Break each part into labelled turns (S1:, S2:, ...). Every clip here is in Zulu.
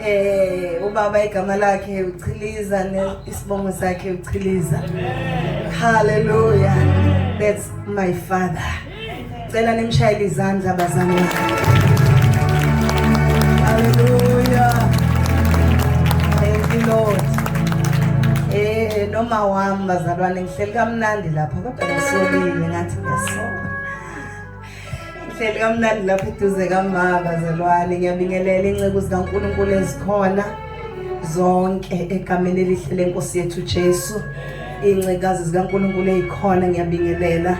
S1: Eh ubaba igama lakhe uchiliza isibongo sakhe uchiliza. Hallelujah. That's my father. Cela nimshayele izandla bazami. Hallelujah. Thank you Lord. Eh noma wami bazalwane ngihleli kamnandi lapha kodwa ngisolile ngathi ngiyasola. Hleli kamnandi lapho eduze kamama bazalwane ngiyabingelela inceku zikaNkulunkulu ezikhona zonke egameni elihle lenkosi yethu Jesu iy'ncikazi zikaNkulunkulu ey'khona ngiyabingelela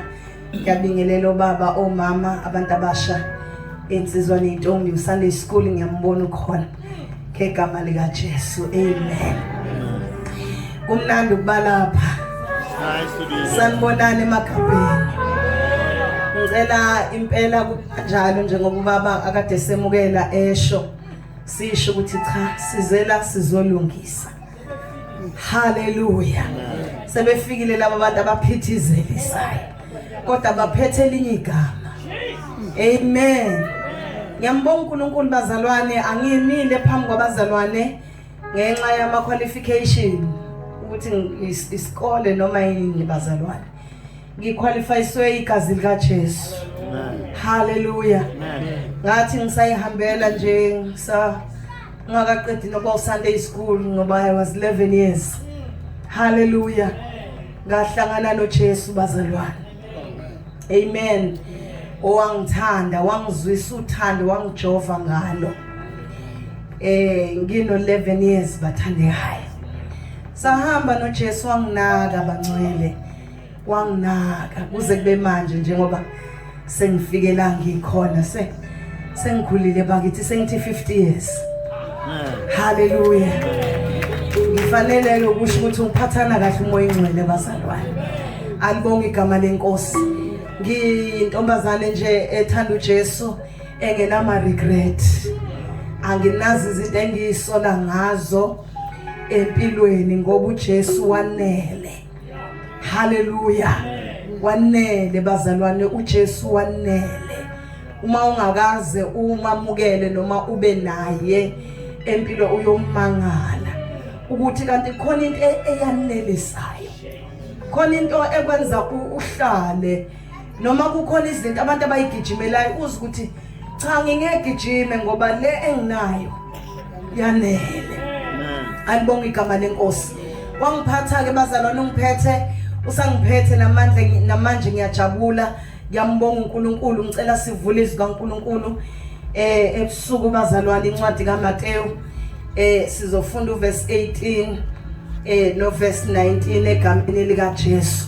S1: ngiyabingelela obaba omama abantu abasha insizwa ney'ntombi usunday school ngiyambona ukhona ngegama likaJesu amen kumnandi ukubalapha sanibonani emagabheni ngicela impela kunjalo njengoba ubaba akade semukela esho sisho ukuthi cha sizela sizolungisa Haleluya. Sebefikile laba bantu abaphithizelisayo. Kodwa baphethe elinye igama. Amen. Ngiyambonga uNkulunkulu bazalwane angimile phambi kwabazalwane ngenxa yama qualification ukuthi isikole noma yini bazalwane. ngikhwalifayiswe igazi likaJesu haleluya ngathi ngisayihambela nje sa ngakaqedi nokuba usunday school ngoba i was 11 years haleluya ngahlangana noJesu bazalwane amen owangithanda wangizwisa uthando wangijova ngalo eh ngino 11 years bathandekayo sahamba noJesu wanginaka bangcwele wanginaka kuze kube manje njengoba sengifike la ngikhona se sengikhulile bakithi sengithi 50 years haleluya ngifanele ukusho ukuthi ngiphathana kahle umoya ingcwele bazalwane alibonga igama lenkosi ngintombazane nje ethanda uJesu engenama regret anginazi izinto engiyisola ngazo empilweni ngoba uJesu wanele haleluya wanele bazalwane uJesu wanele uma ungakaze umamukele noma ube naye empilo uyomangala ukuthi kanti khona into e-, eyanelisayo khona into ekwenza uhlale noma kukhona izinto abantu abayigijimelayo uze ukuthi cha ngingegijime ngoba le enginayo yanele alibonga igama lenkosi wangiphatha ke bazalwane ungiphethe usangiphethe namandla namanje ngiyajabula ngiyambonga uNkulunkulu ngicela sivule izwi kaNkulunkulu eh ebusuku bazalwane incwadi kaMateyu eh sizofunda uverse 18 eh noverse 19 egameni likaJesu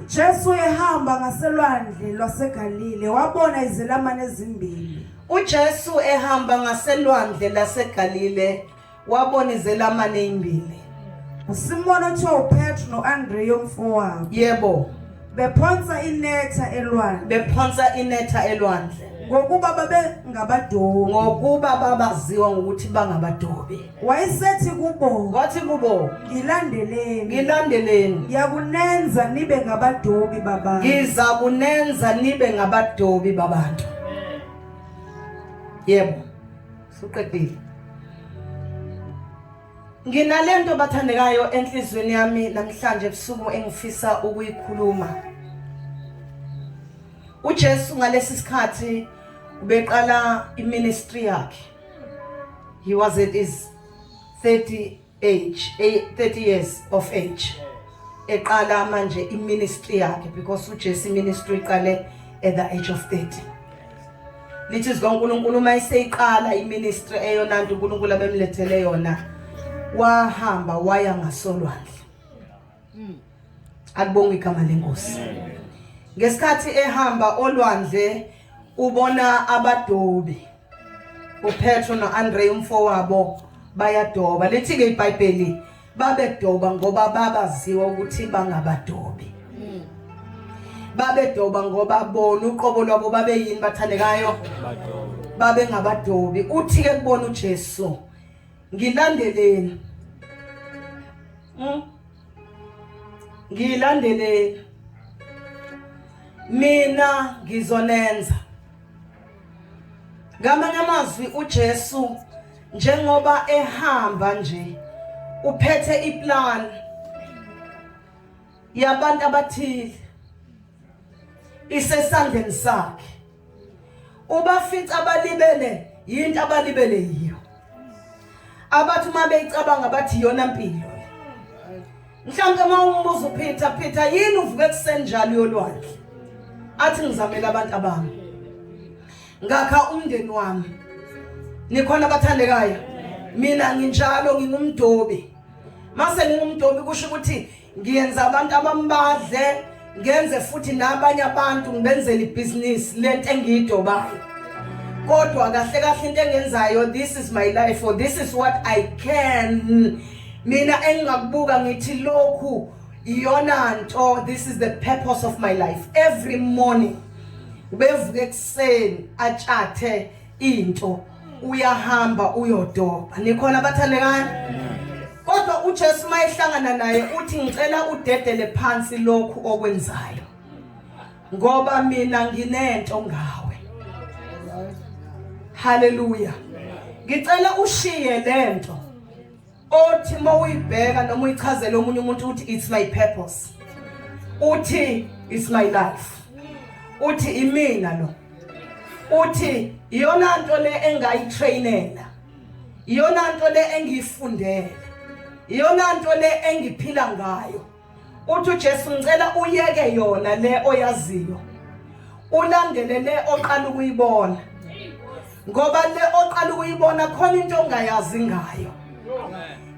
S2: UJesu ehamba ngaselwandle lwaseGalile wabona izelamani ezimbili. UJesu
S1: ehamba ngaselwandle laseGalile wabona izelamani ezimbili. USimon
S2: othiwa uPetru noAndreya umfowabo. Yebo.
S1: Bephonsa
S2: inetha elwandle. Bephonsa inetha elwandle. Ngokuba babengabadobi. Ngokuba
S1: babaziwa ngokuthi bangabadobi. wayesethi
S2: kubo wathi kubo
S1: ngilandeleni ngilandeleni
S2: ngiyakunenza nibe ngabadobi babantu ngiza kunenza
S1: nibe ngabadobi babantu yebo suqedile nginalento bathandekayo enhlizweni yami namhlanje ebusuku engifisa ukuyikhuluma uJesu ngalesi sikhathi ubeqala iministry yakhe He was at his 30 age, 30 years of age. Eqala manje iministry yakhe because uJesu ministry iqale at the age of 30. Lithi zikaNkulunkulu uma eseyiqala iministry eyona nto uNkulunkulu abemlethele yona wahamba waya ngasolwandle. Hmm. Akubonga igama lenkosi. Ngesikhathi ehamba olwandle ubona abadobi. upetro no-andre umfowabo bayadoba lithi-ke ibhayibheli babedoba ngoba babaziwa ukuthi bangabadobi hmm. babedoba ngoba bona uqobo lwabo babeyini bathandekayo babengabadobi uthi-ke kubona ujesu ngilandeleni hmm? ngilandeleni mina ngizonenza Ngamanye amazwi uJesu njengoba ehamba nje uphethe iplan yabantu abathile isesandleni sakhe ubafica abalibele yinto abalibele yiyo abathi uma beyicabanga bathi iyona mpilo mhlawumbe uma umbuza uphitha phitha yini uvuke ekuseni njalo yolwandle athi ngizamele abantu abami ngakha umndeni wami nikhona abathandekayo mina nginjalo ngingumdobi mase ngingumdobi kusho ukuthi ngiyenza abantu abambadle ngenze futhi nabanye abantu ngibenzele ibhizinisi lento engiyidobayo kodwa kahle kahle into engenzayo this is my life or this is what i can mina engingakubuka ngithi lokhu iyona nto this is the purpose of my life every morning ubevuka ekuseni atshathe into uyahamba uyodoba nikhona abathandekayo kodwa uJesu mayehlangana naye uthi ngicela udedele phansi lokhu okwenzayo ngoba mina nginento ngawe haleluya ngicela ushiye lento othi uma uyibheka noma uyichazele omunye umuntu ukuthi it's my purpose uthi it's my life uthi imina lo uthi iyona nto le engayitrainela iyona nto le engiyifundele iyona nto le engiphila ngayo uthi uJesu ngicela uyeke yona le oyaziyo ulandele le oqala ukuyibona ngoba le oqala ukuyibona khona into ongayazi ngayo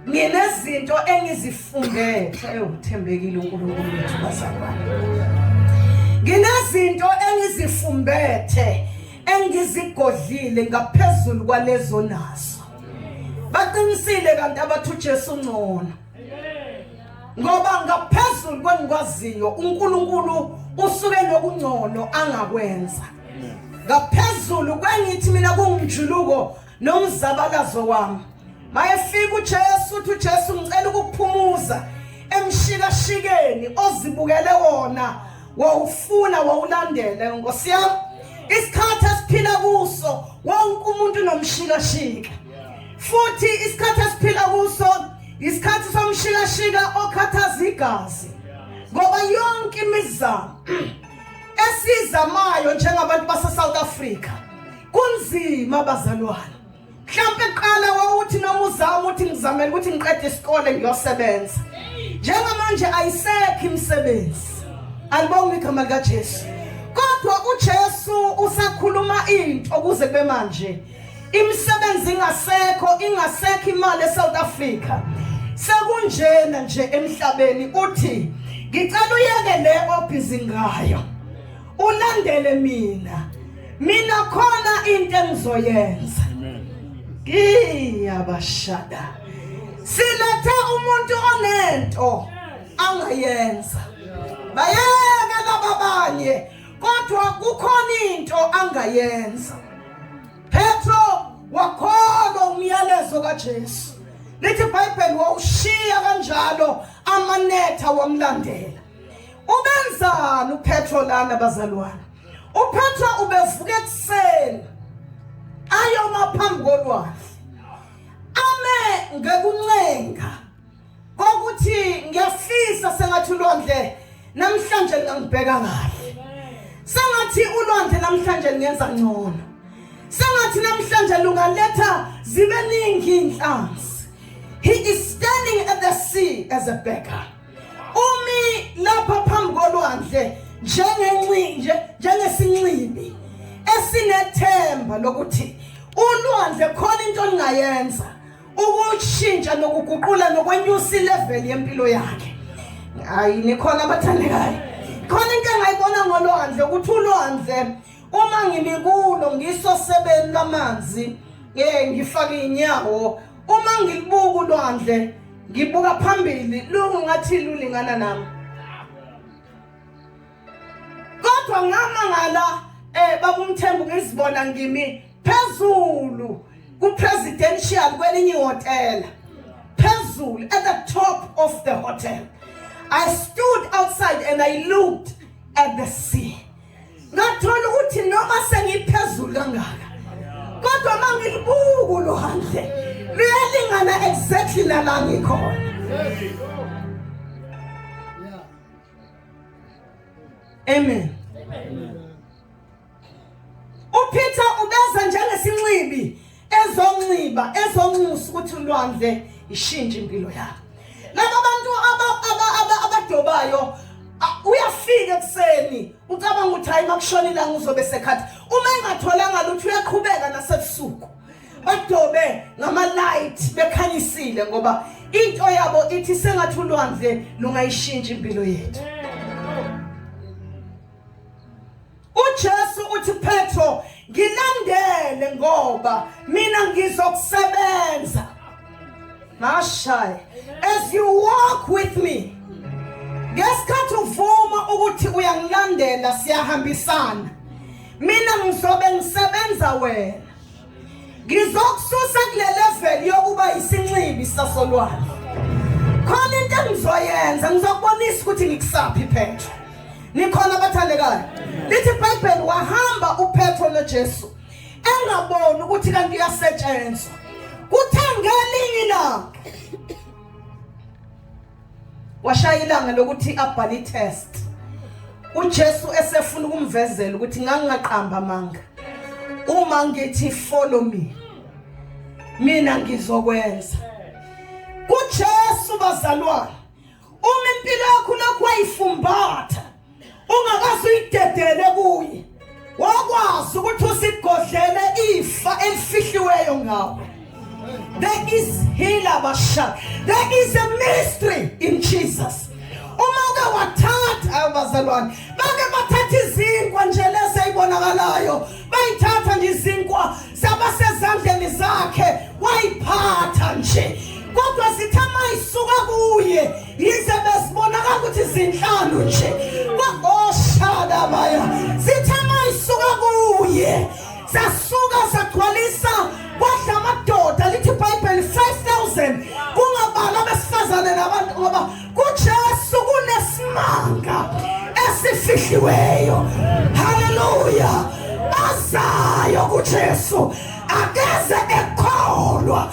S1: nginezinto engizifundele ewuthembekile uNkulunkulu wethu bazalwane nginezinto engizifumbethe engizigodlile ngaphezulu kwalezo nazo baqinisile kanti abathu Jesu ngcono ngoba ngaphezulu kwenikwaziyo uNkulunkulu usuke nokungcono angakwenza ngaphezulu kwengithi mina kungumjuluko nomzabakazo wami mayefika uJesu uthi uJesu ngicela ukukuphumuza emshikashikeni ozibukele wona wawufuna wawulandele nkosi yami isikhathi esiphila kuso wonke umuntu nomshikashika futhi isikhathi esiphila kuso isikhathi somshikashika okhathaza igazi ngoba yonke imizamo esizamayo njengabantu baseSouth Africa kunzima bazalwane mhlawumbe kuqala wawuthi noma uzama ukuthi ngizamele ukuthi ngiqede isikole ngiyosebenza njengamanje ayisekho imisebenzi alibonga igama likaJesu kodwa uJesu usakhuluma into ukuze kube manje imisebenzi ingasekho ingasekho imali eSouth Africa sekunjena nje emhlabeni uthi ngicela uyeke le obhizi ngayo ulandele mina mina khona into engizoyenza ngiyabashada silethe umuntu onento angayenza bayeke laba banye kodwa kukhona into angayenza Petro wakholwa umyalezo kaJesu. Lithi iBhayibheli wawushiya kanjalo amanetha wamlandela. Ubenzani uPetro lana bazalwane? UPetro ubevuka ekuseni ayoma phambi kolwandle. Ame ngekuncenga kokuthi ngiyafisa sengathi ulwandle namhlanje lingangibheka kahle sengathi ulwandle namhlanje lingenza ngcono sengathi namhlanje lungaletha zibe ningi inhlansi he is standing at the sea as a beggar umi lapha phambi kolwandle njengencinje njengesinxibi esinethemba lokuthi ulwandle khona into olingayenza ukushintsha nokuguqula nokwenyusa ilevel yempilo yakhe hayi nikhona abathandekayo khona into engayibona ngolwandle ukuthi ulwandle uma ngilikulo ngisosebeni lwamanzi um ngifake inyawo uma ngilibuka ulwandle ngibuka phambili lungu ngathi lulingana nami Kodwa ngamangala eh babumthembu ngizibona ngimi phezulu ku presidential kwelinye hotel phezulu at the top of the hotel I stood outside and I looked at the sea ngathola ukuthi noma sengiphezulu kangaka kodwa mangibuku lo handle luyalingana exactly nala ngikhona Amen. Amen. UPeter ubeza njengesinxibi ezonxiba ezonxusa ukuthi ulwandle ishintshe impilo yakhe. Laba bantu abadobayo uyafika ekuseni ucabanga ukuthi hayi makushona ilanga uzobe sekhathi uma engatholanga lutho uyakhubeka nasebusuku badobe ngamalight bekhanyisile ngoba into yabo ithi sengathi ulwandle lungayishintsha impilo yethu uJesu uthi Petro ngilandele ngoba mina ngizokusebenza mashaya as you walk with me ngesikhathi uvuma ukuthi uyangilandela siyahambisana mina ngizobe ngisebenza wena ngizokususa kule level yokuba yisinxibi sasolwandle khona into engizoyenza ngizokubonisa ukuthi ngikusaphi phetho nikhona abathandekayo lithi ibhayibheli wahamba uphetho nojesu engaboni ukuthi kanti uyasetshenzwa kuthe ngelinye ilanga washaya ilanga lokuthi abhale itest uJesu esefuna ukumvezela ukuthi ngangingaqamba amanga uma ngithi follow me mina ngizokwenza kuJesu bazalwane uma impilo yakho lokhu wayifumbatha ungakaze uyidedele kuye wakwazi ukuthi usigodlele ifa elifihliweyo ngawe there is healer basha there is a mystery in jesus uma uke wathatha abazalwane bake bathatha izinkwa nje lese ibonakalayo bayithatha nje izinkwa saba sezandleni zakhe wayiphatha nje kodwa sithe mayisuka kuye yize bezibonaka ukuthi zinhlanu nje oshadabaya zithe mayisuka kuye sasuka sagcwalisa kwadla amadoda lithi ibhayibheli 5000 kungabala abesifazane nabantu ngoba kujesu kunesimanga esifihliweyo haleluya bazayo kujesu akeze ekholwa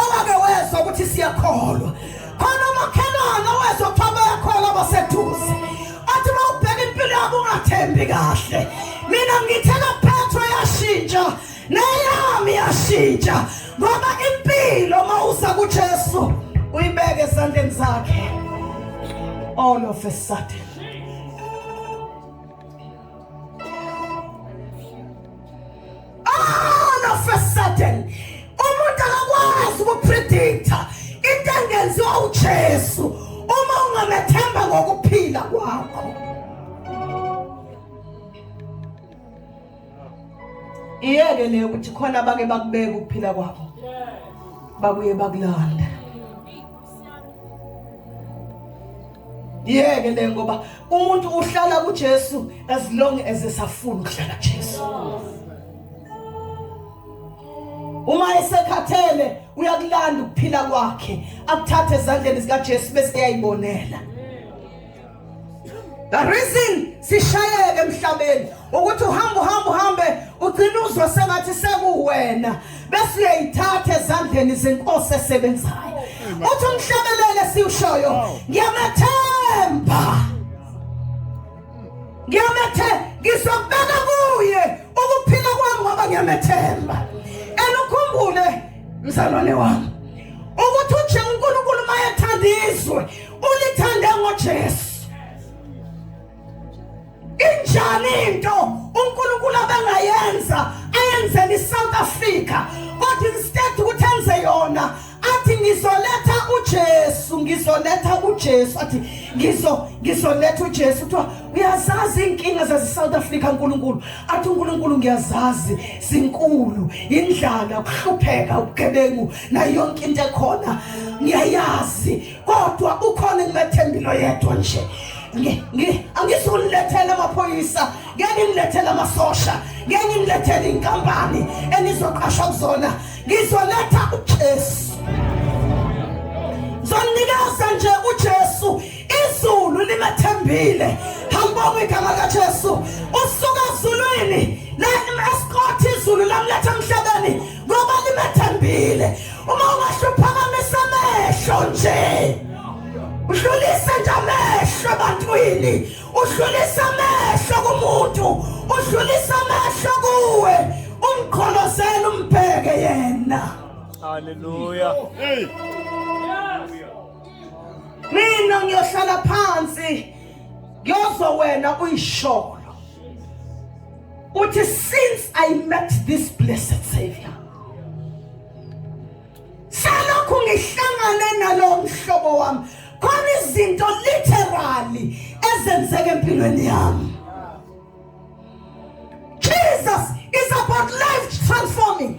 S1: owake wezwa ukuthi siyakholwa khona umakhelwane owezwa kuthiwa bayakholwa baseduze athi uma ubheka impilo yabo ungathembi kahle mina ngithela phethwe yashintsha neyami yashintsha ngoba impilo uma usa kujesu uyibeke esandleni zakhe all of a sudden all of a sudden umuntu akakwazi ukupredicta into engenziwa uJesu uma ungamethemba ngokuphila kwakho iyeke leyo ukuthi khona abake bakubeka ukuphila kwakho babuye bakulanda yeke le ngoba umuntu uhlala kuJesu as long as esafuna ukuhlala kuJesu uma esekhathele uyakulanda ukuphila kwakhe akuthathe ezandleni zikaJesu bese eyayibonela The reason sishayeke emhlabeni ukuthi uhamba uhamba uhambe ugcina uzwa sengathi sekuwena bese uyayithatha ezandleni zenkosi esebenzayo uthi umhlabelele siwushoyo ngiyamethemba ngiyamethe ngizobeka kuye ukuphila kwami ngoba ngiyamethemba elukhumbule mzalwane wami ukuthi uje uNkulunkulu mayethanda izwe ulithande ngoJesu injani into uNkulunkulu abangayenza ayenzele iSouth Africa kodwa instead ukuthi enze yona athi ngizoletha uJesu ngizoletha uJesu athi ngizo ngizoletha uJesu kuthiwa uyazazi inkinga zaseSouth Africa uNkulunkulu athi uNkulunkulu ngiyazazi sinkulu indlala ukuhlupheka ubugebengu nayo yonke into ekhona ngiyayazi kodwa ukhona engimathembile oyedwa nje angisulethele amaphoyisa ngeke ngilethele amasosha ngeke ngilethele inkampani enizoqashwa kuzona ngizoletha uJesu zonikeza nje uJesu izulu limathembile hamba ngegama kaJesu usuka ezulwini la esikhothi izulu lamletha emhlabeni ngoba nimethembile uma ungahle uphakamise amehlo nje udlulise nje amehlo ebantwini udlulise amehlo kumuntu udlulise amehlo kuwe umqholozele umbheke yena haleluya
S3: hey
S1: mina ngiyohlala phansi ngiyozwa wena uyisholo uthi since i met this blessed savior salokhu ngihlangane nalowo mhlobo wami khona izinto literally ezenzeka empilweni yami Jesus is about life transforming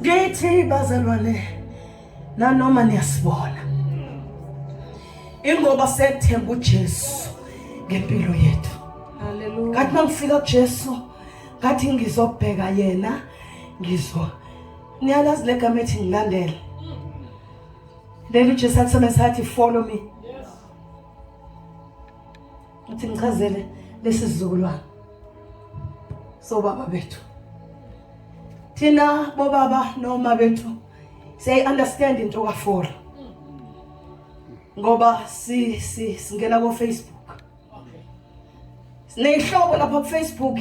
S1: Ngithi bazalwane nanoma niyasibona ingoba sethemba uJesu ngempilo yethu haleluya kathi
S2: mangifika
S1: kuJesu ngathi ngizobheka yena ngizwa niyalazi legama ethi ngilandele leli uJesu akusebenzisa athi follow me Uthi ngichazele lesi sizukulwane sobaba bethu. Thina bobaba noma bethu siyayi understand into ka Fora. Ngoba si si singena ko Facebook. Sineyihlobo lapha ku Facebook.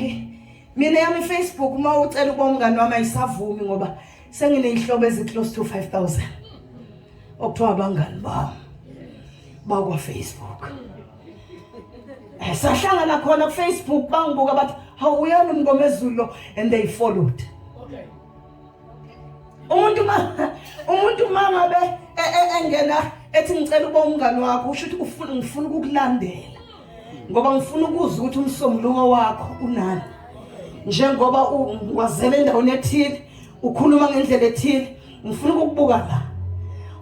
S1: Mina yami Facebook uma ucela ukuba umngane wami ayisavumi ngoba sengineyihlobo ezi close to 5000. Okuthiwa abangani bami bakwa Facebook. Eh, sahlangana khona kufacebook bangibuka bathi hawu uyani umngomezulu lo and they followed okay umuntu ma umuntu ma ngabe e, e, engena ethi ngicela uba umngani wakho usho ukuthi ufuna ngifuna ukukulandela ngoba ngifuna ukuzwa ukuthi umsombuluko wakho unani njengoba wazela endaweni ethile ukhuluma ngendlela ethile ngifuna ukukubuka la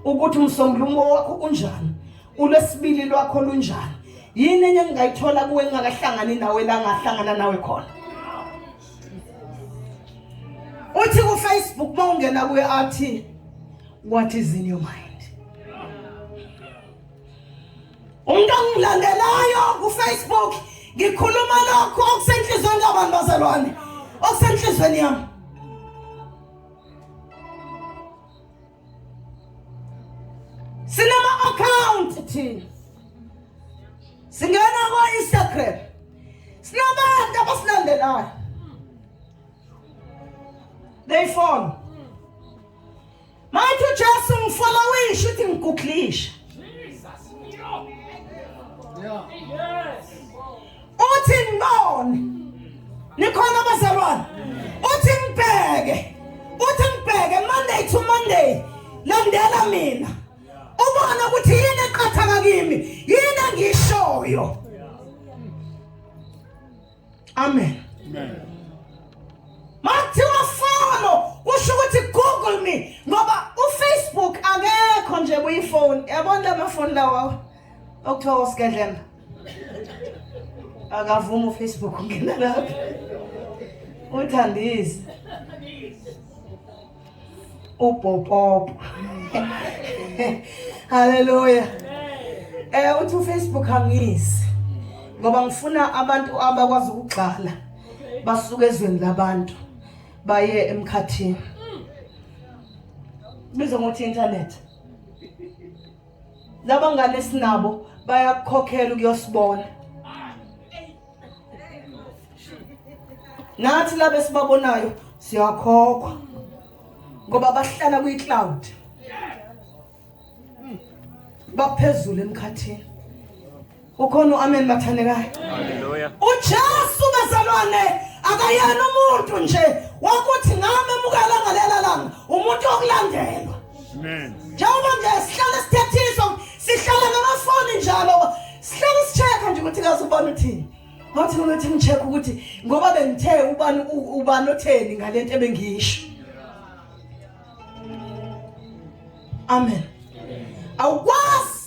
S1: ukuthi umsombuluko wakho unjani ulwesibili lwakho lunjani yini enye engingayithola kuwe engingakahlangani nawe la ngahlangana nawe khona uthi kufacebook uma ungena kuye athi what is in your mind umuntu ongilandelayo kufacebook ngikhuluma lokho okusenhlizweni kabantu bazalwane okusenhlizweni yami sinama account thina singena kwa Instagram sinabantu abasilandelayo they follow Manje uJesu ngifuna uyisho ukuthi ngiguglisha. Jesus. Yeah. Yes. uthi ngibone nikhona abazalwane uthi ngibheke uthi ngibheke monday to monday landela mina ubona ukuthi yini eqhathaka kimi yini engishoyo amen amen mathiwa follow kusho ukuthi google me ngoba ufacebook akekho nje kuyifoni yabona lamafoni lawawo okuthiwa usigedlemba akavumi ufacebook ungena lapho uthandise upopopo haleluya eh uthi ufacebook angiyisi ngoba ngifuna abantu abakwazi ukugxala basuke ezweni labantu baye emkhathini bizo ngokuthi internet laba ngane esinabo bayakukhokhela ukuyosibona nathi laba esibabonayo siyakhokhwa ngoba bahlala kwi-cloud baphezulu emkhathini ukhona uamen bathandekayo haleluya
S3: uJesu
S1: bezalwane akayena umuntu nje wakuthi ngame mukela ngalela langa umuntu okulandelwa amen
S3: njengoba nje
S1: sihlale sithethiswa sihlala ngamafoni njalo sihlale sicheka nje ukuthi kaze ubona uthini ngathi ngokuthi ngicheck ukuthi ngoba bengithe ubani ubani otheni ngalento ebengiyisho amen awukwazi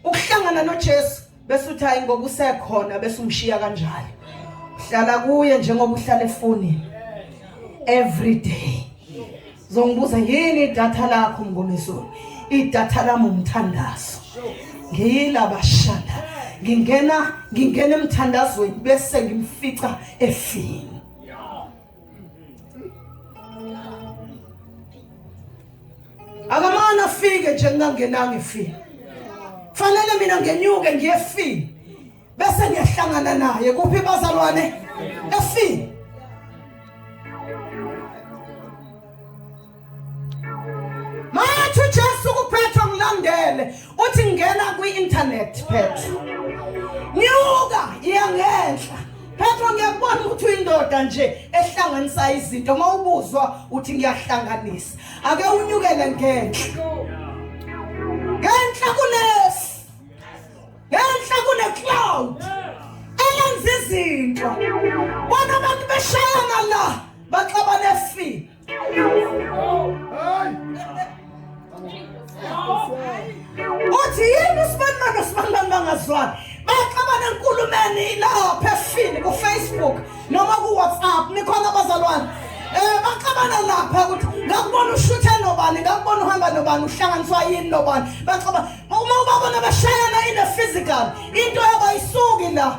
S1: ukuhlangana noJesu bese uthi hayi ngoba usekhona bese umshiya kanjalo hlala kuye njengoba uhlala efonini every day zongibuza yini idatha lakho mngomezulu idatha lami umthandazo ngiyilaba shanda ngingena ngingena emthandazweni bese ngimfica efini akamane afike nje ngingangenanga ifile fanele mina ngenyuke ngiyefile bese ngiyahlangana naye kuphi bazalwane efile Mathi uJesu kuphetha ngilandele uthi ngena kwi-internet phetha. Nyuka iya ngenhla. Phetha ngiyakubona ukuthi uyindoda nje ehlanganisa izinto mawubuzwa uthi ngiyahlanganisa. Ake unyukele ngenhla. Ngenhla kulesi. Ngenhla kune cloud. Elenza izinto. Bona abantu beshayana la baxabane fi. uthi yini usibanibaka sibanibani bangazwani baxabana enkulumeni ilapha efini kufacebook noma kuwhatsapp nikhona abazalwane um baxabana lapha ukuthi ngakubona ushuthe nobani ngakubona uhamba nobani uhlanganiswa yini nobani baxabana uma ubabona bashayana in a physical into yabayisuki la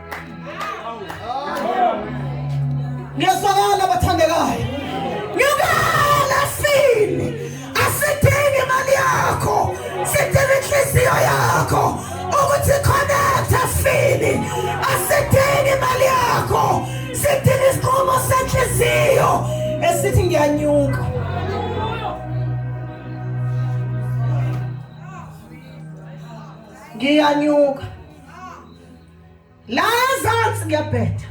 S1: Ngiyasakala bathandekayo. Ngiyakala sini. Asidingi imali yakho. Sidinga inhliziyo yakho. Ukuthi connect sini. Asidingi imali yakho. Sidinga isinqumo senhliziyo esithi ngiyanyuka. Ngiyanyuka. La ezansi ngiyabheda.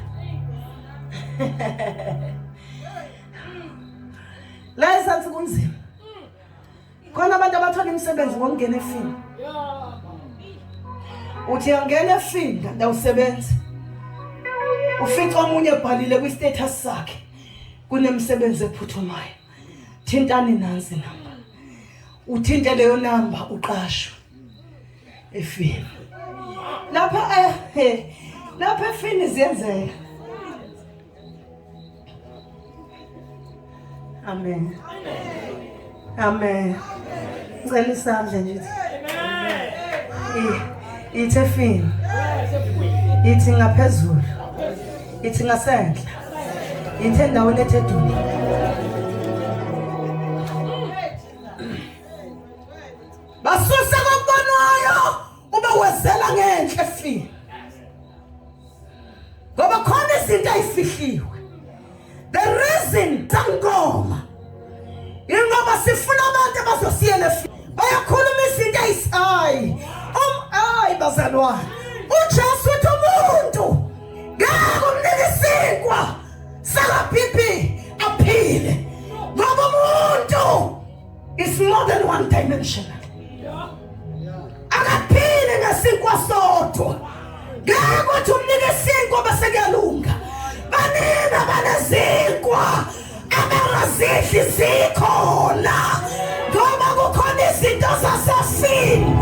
S1: La ezansi kunzima. Khona abantu abathola imisebenzi ngokungena efini. Uthi angena efini kanti awusebenzi. Ufica omunye ebhalile kwi status sakhe kunemisebenzi ephuthumayo. Thintani nansi namba. Uthinte leyo namba uqashwe. efini lapha ehe eh, lapha efini ziyenzeka amen amen ngicela isandla nje ithi efini ithi ngaphezulu ithi ngasenhla ithi endaweni ethe dudu basuse kokubanayo ube wezela ngenhle fi ngoba khona izinto ayifihliwe the reason sangoma ingoba sifuna abantu abazosiyela fi bayakhuluma izinto ayisayi um ayi bazalwane uJesu uthi umuntu ngeke umnike isinkwa sakapipi aphile ngoba umuntu It's more than one dimension. Akaphili ngesinkwa sodwa. Ngeke ukuthi umnike isinkwa bese kuyalunga. Banina banezinkwa abangazidli zikhona. Ngoba kukhona izinto zasesini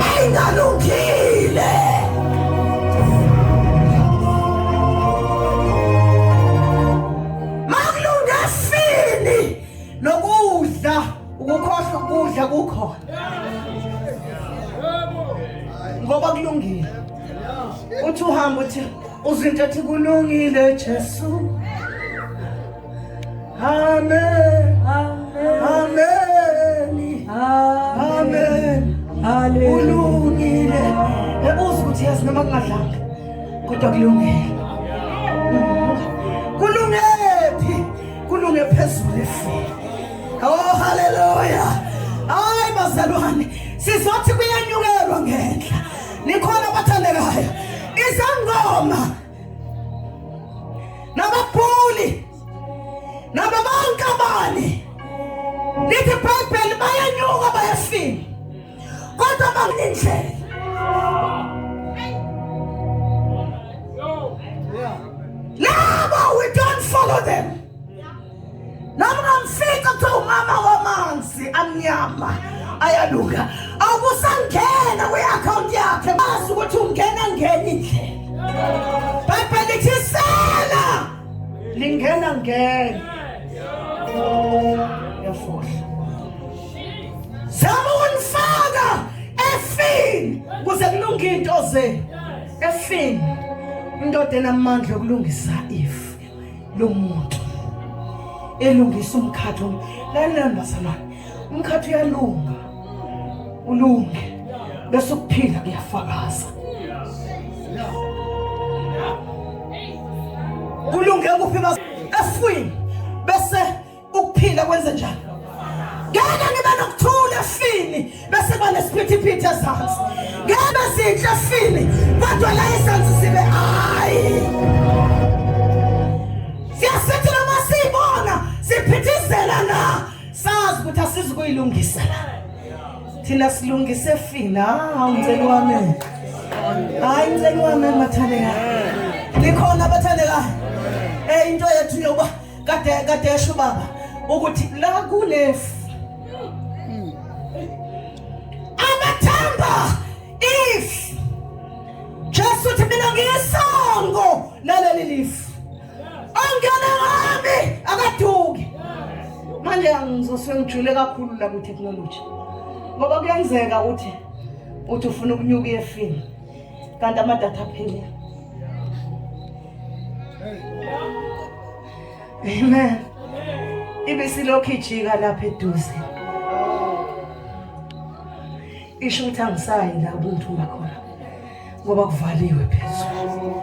S1: ayingalungile. nokudla ukukhohlwa ukudla kukhona ngoba kulungile uthi uhamba uthi uzinto ethi kulungile Jesu amen amen amen amen haleluya kulungile ebuza ukuthi yazi noma kungadlanga kodwa kulungile kulunge phezulu efile oh haleluya hayi bazalwane sizothi kuyanyukelwa ngenhla nikhona abathandekayo izangoma nababhuli naba bonke abani lithi ibhayibheli bayanyuka bayafika kodwa bakulindlela laba we don't follow them noma ungamfica kuthiwa umama wamanzi amnyama ayaluka awukusangena kwi-akhawunti yakhe bazi ukuthi ungena ngenye indlela bhayibheli lithi isela lingena ngena yafohla zama ukunifaka efini kuze kulunge into ze efini indoda enamandla yokulungisa ifu lomuntu elungisa umkhathi lalela bazalwane umkhathi uyalunga ulunge bese ukuphila kuyafakaza kulunge kuphi efwini ukuphila kwenze njani ngeke ngibe nokuthula efini bese banesiphithiphithi ezansi ngeke bezinhle efini kodwa la izansi zibe hayi siyasithi noma siyibona siphithizela na sazi ukuthi asizi kuyilungisa la thina silungise efini hawu ngicela wami hayi ngicela wami mathandekayo likhona abathandekayo eh into yethu yokuba kade kade yasho baba ukuthi la kunefu abathamba if Jesu uthi mina ngiyisongo laleli lifu ongena ngami akaduki manje angizoswe ngijule kakhulu la ku technology ngoba kuyenzeka ukuthi uthi ufuna ukunyuka efini kanti amadatha aphele amen ibe silokhu ijika lapha eduze isho ukuthi angisayi la ubuntu ngakhona ngoba kuvaliwe phezulu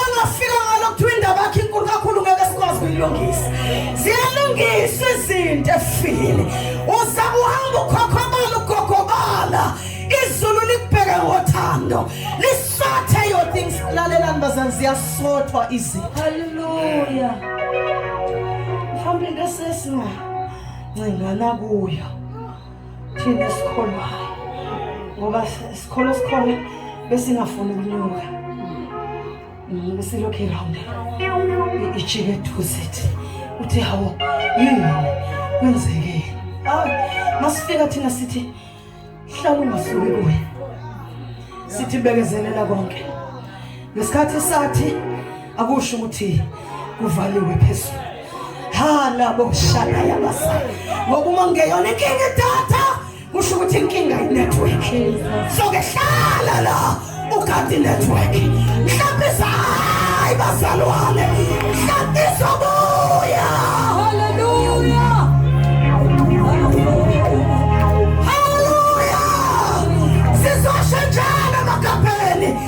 S1: ongafika ngalo kuthiwa indaba yakhe inkulu kakhulu ngeke sikwazi kuyilungisa ziyalungiswa izinto efile uzama uhamba ukhokhobala ugogobala izulu likubheke ngothando lisothe your things lalelani bazani ziyasothwa izinto haleluya mhlawumbe into esesinga ncengana kuyo thina esikholwayo ngoba sikholo sikhona besingafuni ukunyuka mm, besilokhu iround ijike eduze thi uthi hawo yini kwenzekeni hayi masifika thina sithi hlala ungasuki kuye sithi bekezelela konke ngesikhathi sathi akusho ukuthi kuvaliwe phezulu ha labo shaka yabasa ngoba uma ngeyona inkinga idatha kusho ukuthi inkinga inetwork so ke hlala la ugadi network mhlawumbe izahayi bazalwane mhlawumbe izobuya
S2: haleluya
S1: haleluya sizosho njalo emagabheni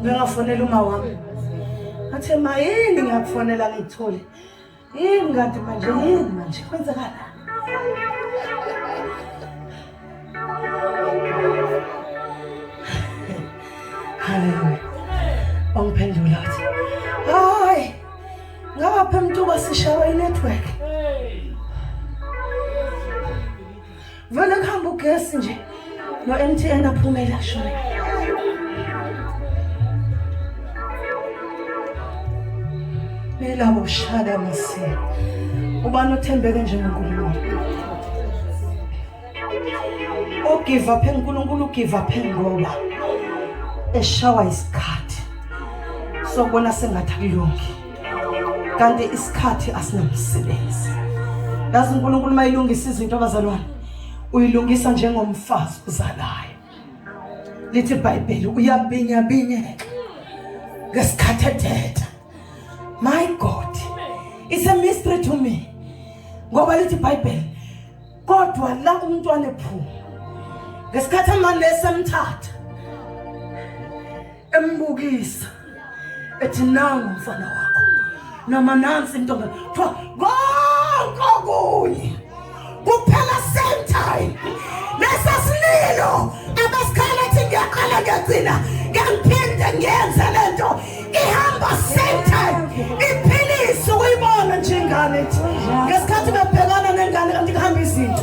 S1: ngingafonela uma wami athe ma yini ngiyakufonela ngiyithole yini kanti manje yini manje kwenzekala haleluya wangiphendula athi hayi ngapha mntuba sishawa inetwork Vele kuhamba ugesi nje. No MTN aphumela shona. Phela ushada mase. Ubani othembeke njengoNkulunkulu? Ogive up eNkulunkulu ugive up ngoba eshawa isikhathi. Sobona sengathi akulungi. kanti isikhathi asinamsebenzi yazi uNkulunkulu mayilungisa izinto abazalwane uyilungisa njengomfazi uzalayo lithi iBhayibheli uyabinya binyeka ngesikhathi ethetha my god it's a mystery to me ngoba lithi iBhayibheli kodwa la umntwana ephuma ngesikhathi amanesi emthatha embukisa ethi nangu umfana wakho noma nansi intombi kuthiwa konke okunye kuphela same time nesasililo abasikhala ethi ngiyaqala ngiyagcina ngiyaphinde ngiyenze le nto ihamba same time iphilisa ukuyibona nje ingane ethi ngesikhathi bebhekana nengane kanti kuhamba izinto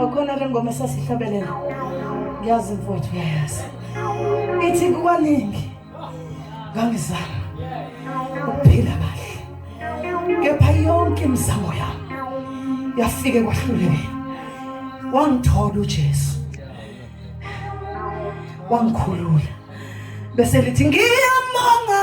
S1: Akhona le ngoma esasihlabelela. Ngiyazi mfowethu uyayazi. Ithi kukaningi ngangizama ukuphila kahle. Kepha yonke imizamo yami yafike kwahluleka. Wangithola uJesu. Wangikhulula. Bese lithi ngiyamanga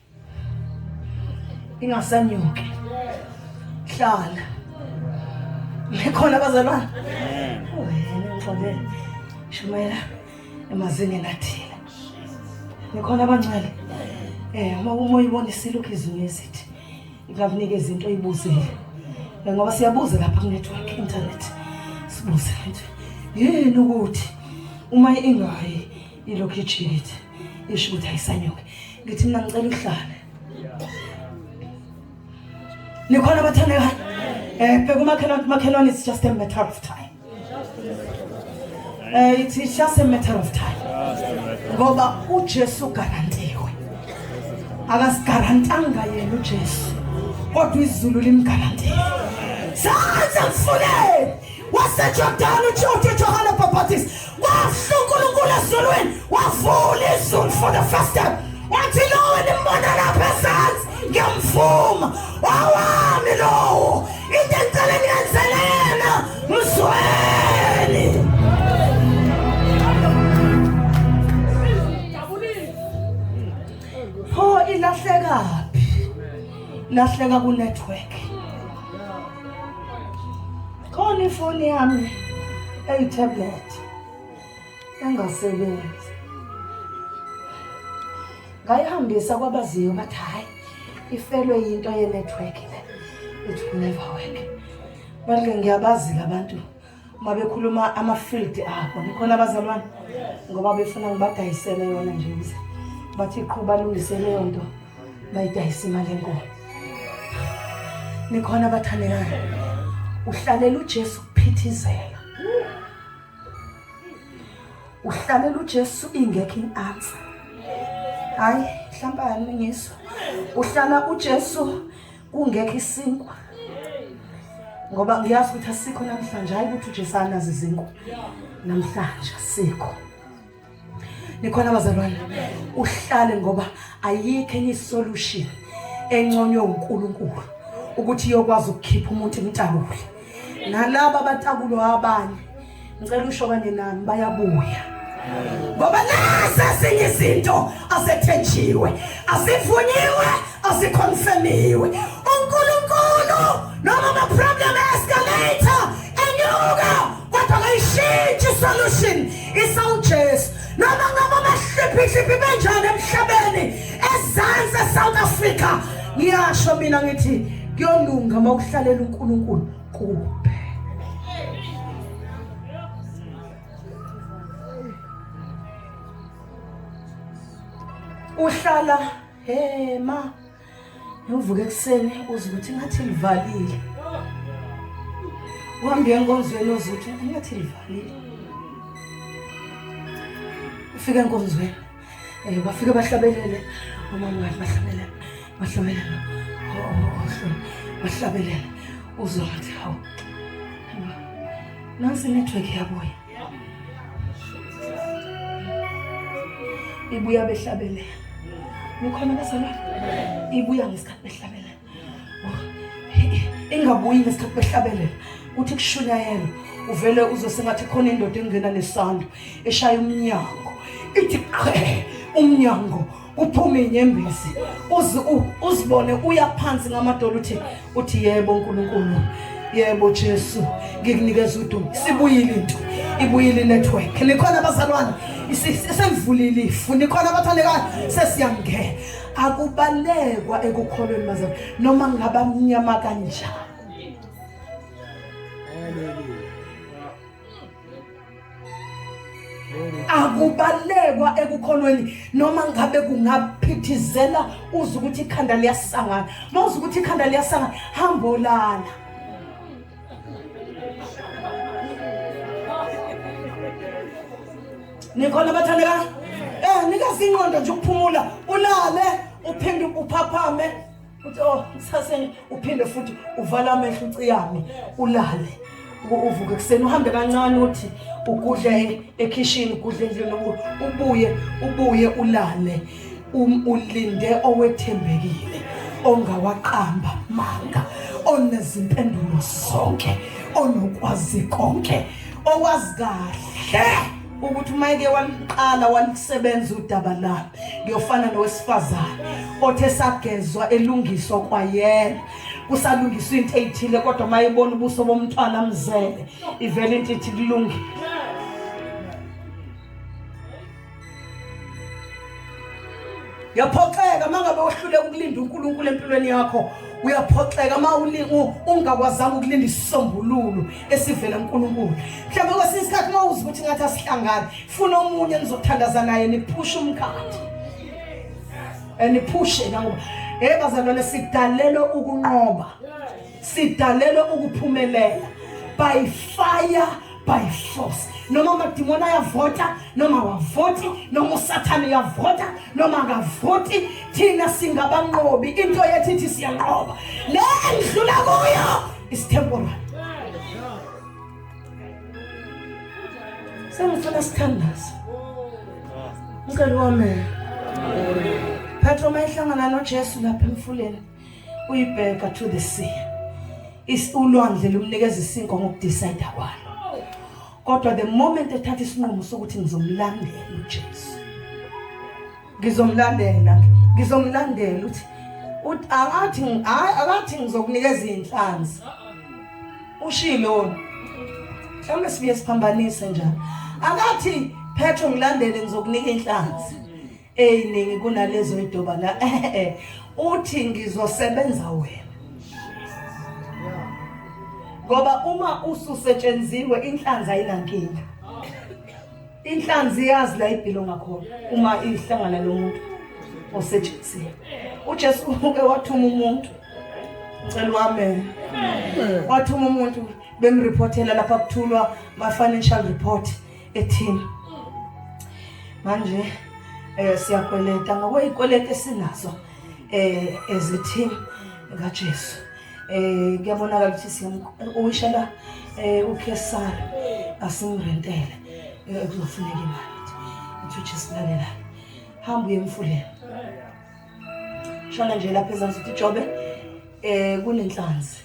S1: ingasanyuke hlala likhona abazalwane wena ngixole shumela emazingeni athile nikhona abancane eh uma umoya ubonisile ukho izulu esithi ikakunike izinto oyibuzile eh, ngoba siyabuza lapha ku network internet sibuze yini ukuthi uma ingayi ilokhu ijikithi isho ukuthi ayisanyuke ngithi mina ngicela uhlale nikhona abathandekayo um bheka umakhelwane it's just a matter of time um it's just a matter of time ngoba ujesu ugarantiwe akasigarantanga yena ujesu kodwa izulu limgarantile sanze mfuleni wasejordani ujojo johane bapatist Kwasho uNkulunkulu ezulwini wavula izulu for the first time wathi lowo nimbona lapha ezansi ngiyamvuma wawami lowo into engicela niyenzele yena mzweli pho ilahlekaphi lahleka ku-network Khona ifoni yami eyi-tablet engasebenzi. Ngayihambisa kwabaziyo bathi hhayi ifelwe yinto ye-network le. It will never work. Manje ngiyabazika abantu uma bekhuluma ama-field abo nikhona abazalwane ngoba befuna ngibadayisele yona nje ukuze bathi qhuba lungise leyo nto. bayidayisa imali enkulu nikhona abathandekayo uhlalela uJesu kuphithizela uhlalela uJesu ingekho iansa hayi mhlawumbe aningiso uhlala uJesu kungekho isinkwa ngoba ngiyazi ukuthi asikho namhlanje hayi ukuthi uJesu anazi izinkwa namhlanje asikho nikhona bazalwane uhlale ngoba ayikho enye isolution enconywe uNkulunkulu ukuthi iyokwazi ukukhipha umuntu imtabule nalabo abatakulo abanye ngicela usho kanye nami bayabuya ngoba nase sinye izinto asethenjiwe asivunyiwe asikhonfemiwe uNkulunkulu noma ama problem escalator enyuka kodwa kayishintshi solution isawuJesu noma ngaba amahliphihliphi benjani emhlabeni ezansi eSouth Africa ngiyasho mina ngithi kuyolunga uma uhlalela uNkulunkulu kuwe uhlala Hey ma. Ngivuke ekuseni uze ukuthi ngathi livalile. Uhambe enkonzweni uze ukuthi ngathi livalile. Ufike enkonzweni. Eh bafike bahlabelele umama wakhe bahlabelele. Bahlabelele. Oh, oh, oh bahlabelele. Uzothi hawu. Nansi network yabuya. ibuya behlabelela nikhona bezalwane ibuya ngesikhathi behlabelela ingabuyi ngesikhathi behlabelela kuthi kushunyayela uvele uzosengathi khona indoda engena nesando eshaya umnyango ithi qhe umnyango kuphume inyembezi uzibone uya phansi ngamadolo uthi uthi yebo uNkulunkulu yebo Jesu ngikunikeza udumo sibuyile into ibuyile network nikhona abazalwane isivulile ifu nikhona abathandekayo sesiyangena akubalekwa ekukholweni bazalwane noma ngabamnyama kanjani akubalekwa ekukhonweni noma ngabe kungaphithizela uze ukuthi ikhanda liyasangana uma uze ukuthi ikhanda liyasangana hamba olala nikhona bathandeka um eh, nikazi ingqondo nje ukuphumula ulale uphinde uphaphame uthi oh kusaseni uphinde futhi uvala amehlo uciyame ulale uvuke kuseni uhambe kancane uthi ugudle ekhishini ugudle endlini ubuye ubuye ulale um, ulinde owethembekile ongawaqamba manga onezimpendulo zonke onokwazi konke owazi kahle ukuthi uma eke waliqala walisebenza udaba la ngiyofana nowesifazane othe sagezwa elungiswa kwayena kusalungiswa into eyithile kodwa uma ebona ubuso bomntwana mzele ivele into ithi kulungile Uyaphoxeka mangabe uhluleka ukulinda uNkulunkulu empilweni yakho. Uyaphoxeka uma ungakwazanga ukulinda isisombululo esivela kuNkulunkulu. Mhlawumbe kwesinye isikhathi uma uzi ukuthi ngathi asihlangani, funa omunye enizothandaza naye niphushe umkhathi. Eniphushe eh, nawo. Hey bazalwane sidalelwe ukunqoba. Sidalelwe ukuphumelela by fire by force noma amadimoni ayavota noma wavoti noma usathane uyavota noma akavoti thina singabanqobi into yethu ithi siyanqoba le endlula kuyo isitemporary sengifuna sithandaza mkeli wami phetha uma ihlangana nojesu lapha emfuleni uyibheka to the sea is ulwandle lumnikeza isinkwa ngokudecide kwalo kodwa the moment ethatha isinqumo sokuthi ngizomlandela uJesu ngizomlandela ngizomlandela uthi uthi akathi akathi ngizokunikeza izinhlanzi ushilo mhlawumbe sibuye siphambanise njalo akathi phetho ngilandele ngizokunika inhlanzi eyiningi kunalezo idoba la uthi ngizosebenza wena ngoba uma ususetshenziwe inhlanzi ayinankinga inhlanzi iyazi la ibhilo ngakhona uma ihlangana lomuntu osetshenzile uJesu uke wathuma umuntu ngicela wame wathuma umuntu bemreportela lapha kuthulwa ma financial report ethini manje eh siyakweleta ngokwezikweleti esinazo eh ezithin kaJesu eh kuyabonakala ukuthi siyamuyishela eh uKesari asimrentele eh, kuzofuneka imali ukuthi uJesulalelayo hamba uye emfuleni shona nje lapha ezansi ukuthi jobe eh kunenhlanzi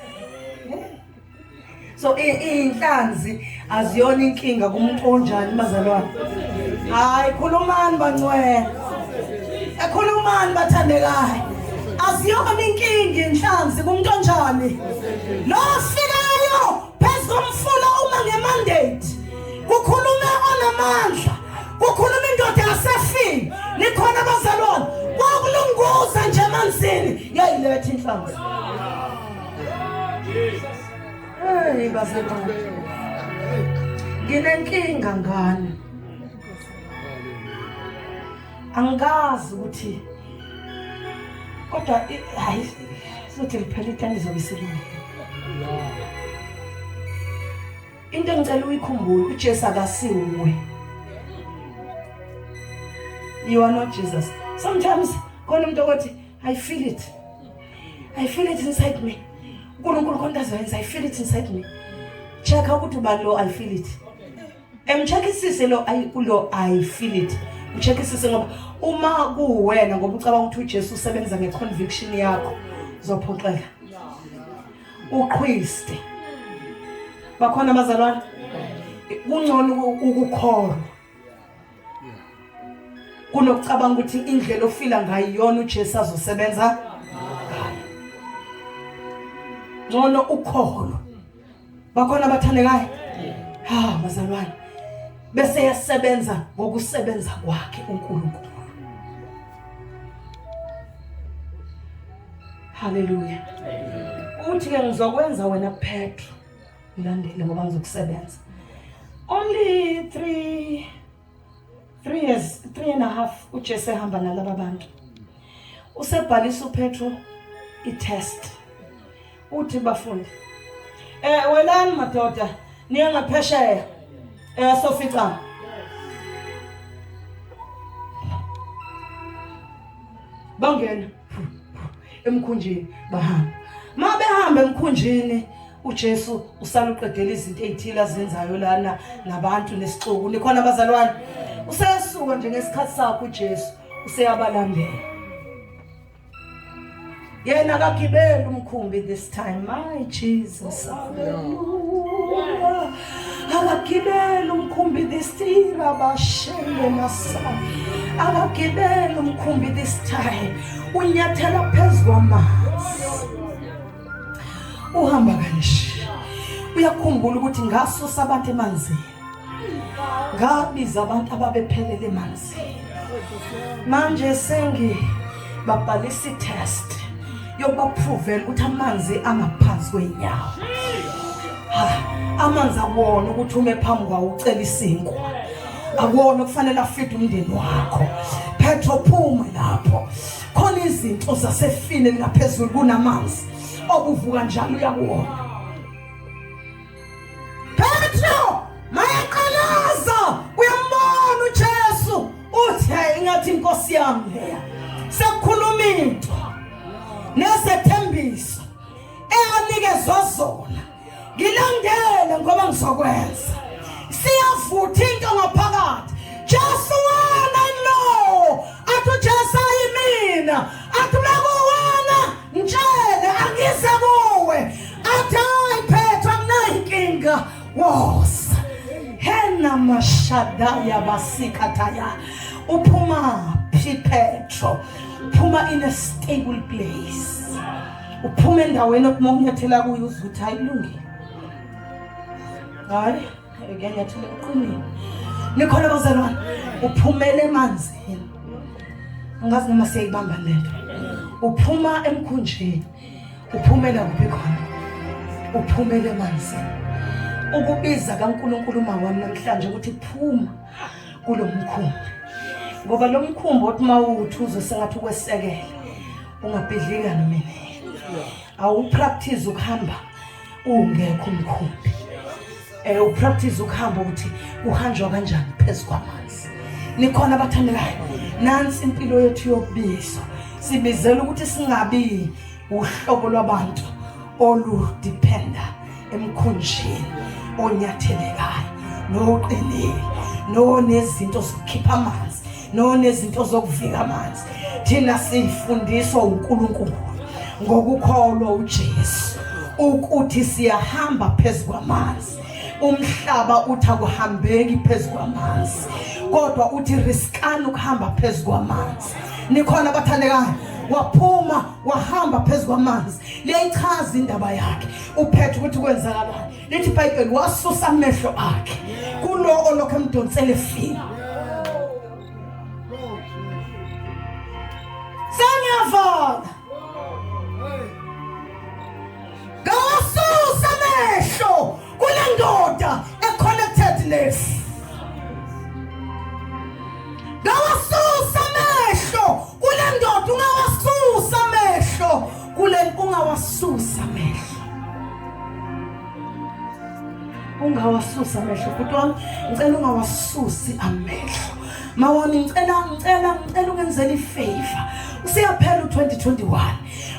S1: so iy'nhlanzi aziyona inkinga kumuntu onjani bazalwane hhayi khulumani bancwela ekhulumani bathandekayo aziyona inkinga inhlanzi kumuntu onjani lo ofikayo phezu komfula uma ngemandate kukhulume onamandla kukhuluma indoda yasefini nikhona abazalwane kwakulunguza nje emanzini yayiletha inhlanzi Hey basekhona. Nginenkinga ngane. Angikazi ukuthi kodwa hayi sothi liphela itani izobe isilunga. Into engicela uyikhumbule uJesu akasiwe. You are not Jesus. Sometimes khona umuntu othi I feel it. I feel it inside me. uNkulunkulu konke azoyenza I feel it inside me. Check ukuthi uba lo I feel it. Emcheckisise lo I lo I feel it. Ucheckisise ngoba uma kuwena ngoba ucabanga ukuthi uJesu usebenza ngeconviction yakho uzophoxeka. Uqhwiste. Bakhona abazalwane. Kungcono ukukholwa. kunokucabanga ukuthi indlela ofila ngayo iyona uJesu azosebenza ngayo ngcono ukholo bakhona abathandekayo ha bazalwane bese yasebenza ngokusebenza kwakhe uNkulunkulu haleluya uthi ke ngizokwenza wena Petro ngilandele ngoba ngizokusebenza only three three years three and a half ujesu ehamba nalaba bantu usebhalisa upetro i-test uthi bafundi um welani madoda niye ngaphesheya um eh, soficana bangena emkhunjini bahamba ma behamba emkhunjini uJesu usaluqedela izinto ezithile azenzayo lana nabantu nesixuku nikhona abazalwane usesuka nje ngesikhathi sakhe uJesu useyabalandela yena akagibeli umkhumbi this time my Jesus hallelujah Akagibele umkhumbi this time abashenge masana. Akagibele umkhumbi this time. Unyathela phezu kwamanzi. Uhamba kanje. Uyakhumbula ukuthi ngaso sabantu emanzini. Ngabiza abantu ababephelele emanzini. manje sengi babhalisa i-test yokubaphuvela ukuthi amanzi angaphansi kwey'nyawo amanzi akuwona ukuthi ume phambi kwawo ucela isinkwa akuwona okufanele afide umndeni wakho phetho phuma lapho khona izinto zasefile ngaphezulu kunamanzi okuvuka njalo uyakuwona Petro mayaqalaza uyambona uJesu uthi hayi ingathi inkosi yami leya sekukhuluma into nezethembiso eyanikezwa zona ngilandele ngoba ngizokwenza siyavutha into ngaphakathi Jesu wena no athi uJesu ayimina athi Mtshele angize kuwe athi hayi phethu anginayinkinga wosa hena mashadaya basikhathaya uphuma phi Petro uphuma in a stable place uphuma endaweni okumonyethela kuyo uzuthi ayilungile hayi ngiyathula emqinini nikhona bazalwane uphumele emanzini angazi noma siyayibamba lento uphuma emkhunjini uphumela kuphi khona uphumele emanzini ukubiza kaNkulunkulu uma wami namhlanje ukuthi phuma kulo mkhumbi ngoba lo mkhumbi othi uma uwuthi uzosengathi ukwesekela ungabhidlika nomini awupractice ukuhamba ungekho umkhumbi eh upractice ukuhamba ukuthi kuhanjwa kanjani phezu kwamanzi nikhona abathandekayo nansi impilo yethu yokubizwa sibizela ukuthi singabi uhlobo lwabantu oludependa emkhunjini onyathelekayo noqinile nonezinto zokukhipha amanzi nonezinto zokuvika amanzi thina sifundiswa uNkulunkulu ngokukholwa uJesu ukuthi siyahamba phezu kwamanzi umhlaba uthi akuhambeki phezu kwamanzi kodwa uthi riskani ukuhamba phezu kwamanzi nikhona abathandekayo waphuma wahamba phezu kwamanzi liyayichaza indaba yakhe uphethe ukuthi kwenzakalani lithi ibhayibheli wasusa amehlo akhe kulo olokhu emdonsela efile sengiyavona ngawasusa amehlo kule ndoda e-connected nesi ngawasusa amehlo kule ndoda ungawasusa amehlo kule ungawasusa amehlo ungawasusa amehlo bhuti wami ngicela ungawasusi amehlo ma wami ngicela ngicela ngicela ungenzela ifavor useyaphela u-2021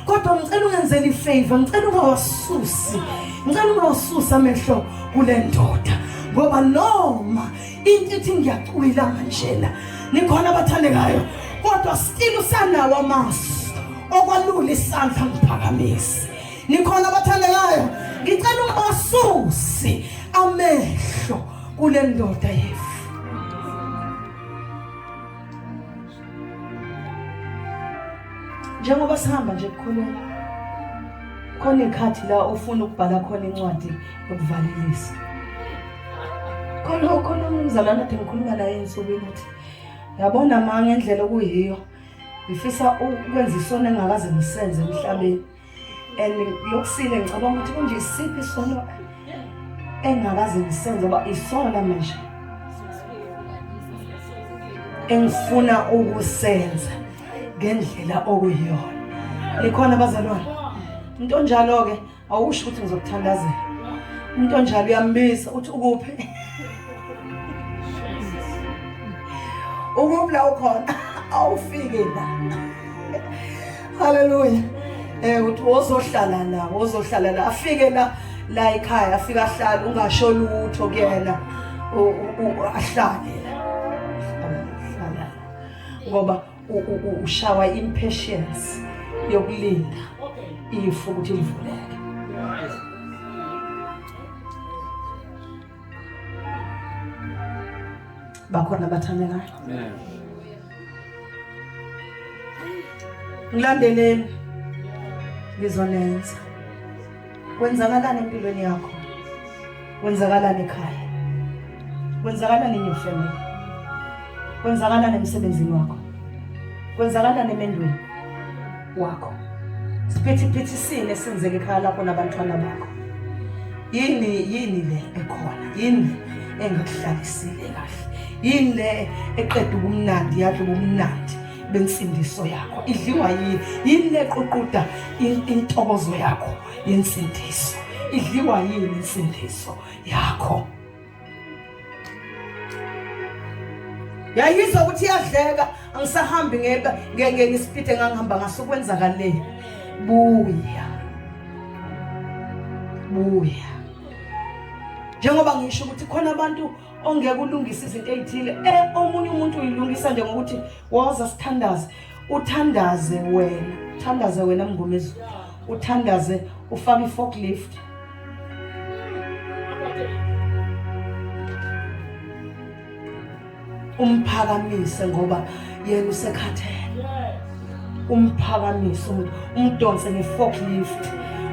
S1: kodwa ngicela ungenzela ifavor ngicela ungawasusi ngicela ungawasusi amehlo kule ndoda ngoba noma into ithi ngiyacwila manjena nikhona abathandekayo kodwa still usanawo amasu okwalula isandla ngiphakamisi nikhona abathandekayo ngicela ubasusi amehlo kule ndoda yefu njengoba sihamba nje kukhona khona ikhathi la ofuna ukubhala khona incwadi ukuvalelisa khona khona umzalwana ade ngikhuluma naye ensukwini ukuthi yabona ma ngendlela okuyiyo ngifisa ukwenza isono engakaze ngisenze emhlabeni and lokusile ngicabanga ukuthi kunje isiphi isono engakaze ngisenze uba isona manje engifuna ukusenza ngendlela okuyiyona likhona abazalwane into njalo-ke awusho ukuthi ngizokuthandazela umuntu onjalo uyambiza uthi ukuphi ukuphi la ukhona awufike la haleluya eh uthi wozohlala la wozohlala la afike la la ekhaya afika ahlala ungasho lutho kuyena ahlale ngoba ushawa impatience yokulinda ifu ukuthi livuleke bakhona abathandekayo ngilandeleni ngizonenza Kwenzakalani empilweni yakho? Kwenzakalani ekhaya? Kwenzakalani in your family? Kwenzakalani emsebenzini wakho? Kwenzakalani emendweni wakho? Siphithipithisini esenzeke ekhaya lakho nabantwana bakho. Yini yini le ekhona? Yini engakuhlalisile kahle? Yini le eqeda ubumnandi yakhe ubumnandi? bensindiso yakho idliwa yini yini leququda intokozo yakho yensindiso idliwa yini insindiso yakho yayizwa ukuthi iyadleka angisahambi ngeke ngeke ngisipite ngangihamba ngaso kwenzakaleni buya buya njengoba ngisho ukuthi khona abantu ongeke ulungise izinto ezithile eh omunye umuntu uyilungisa nje ngokuthi woza sithandaze uthandaze wena uthandaze wena mngomezi uthandaze ufake i-forklift umphakamise ngoba yena usekhathele umphakamise umuntu umdonse nge-forklift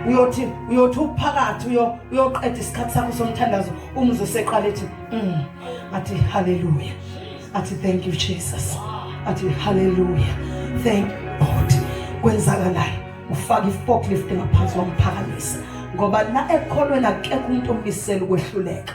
S1: uyothi uyothi uphakathi uyoqeda isikhathi sakho somthandazo umzi useqala ethi mm. athi haleluya athi thank you jesus athi haleluya thank god kwenzakalayo ufaka i-forklift ngaphansi wamphakamisa ngoba la ekholweni akekho umuntu omisela ukwehluleka